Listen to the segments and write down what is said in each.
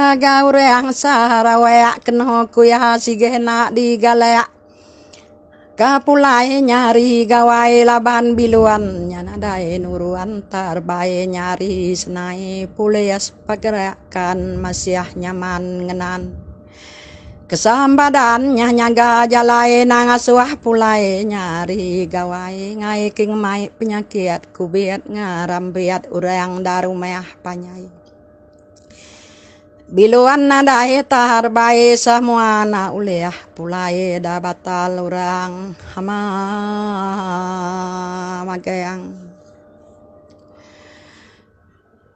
Ngagai urang Sarawak keno kuya sige enda digalak ke pulai nyari gawai laban bilun nya nadai nuruan terbai nyari senai polis pergerakan masyah nyaman ngenan. Kesan badan nyah nyaga jalai ina ngasuh pulai nyari gawai ngai ke ngemai penyakit kubit ngerambit orang da rumah panjai. Bilun nadai tahar bai semua na ulih pulai da batal orang hama magang.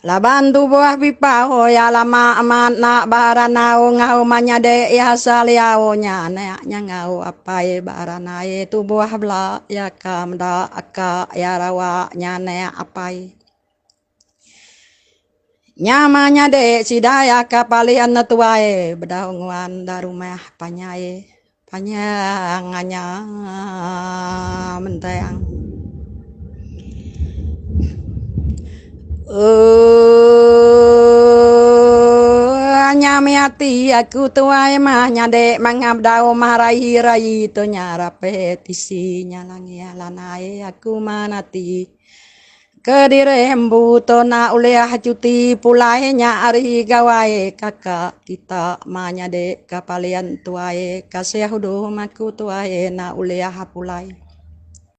Laban tubuh Bipau iya lama amat enda ba randau enggau menyadi iya asal iya nya anak nya enggau apai iya ba randai tubuh bela iya ka meda ka iya rawa nya anak apai. Nya menyadi sida iya ka paling netuai bedau nguan da rumah panjai. Panjang nya mentang. Oooooooooooooooo Nya mih ati aku tuai mah nyadi mangah bedau mah rayi rayi tu nya rape tisi nya langih lanai aku man ati. Kediri embu tu enda ulih cuti pulai nya ari Gawai kaka kita ma nyadi ka Parlian tuai kasih uduh maku tuai enda ulih pulai.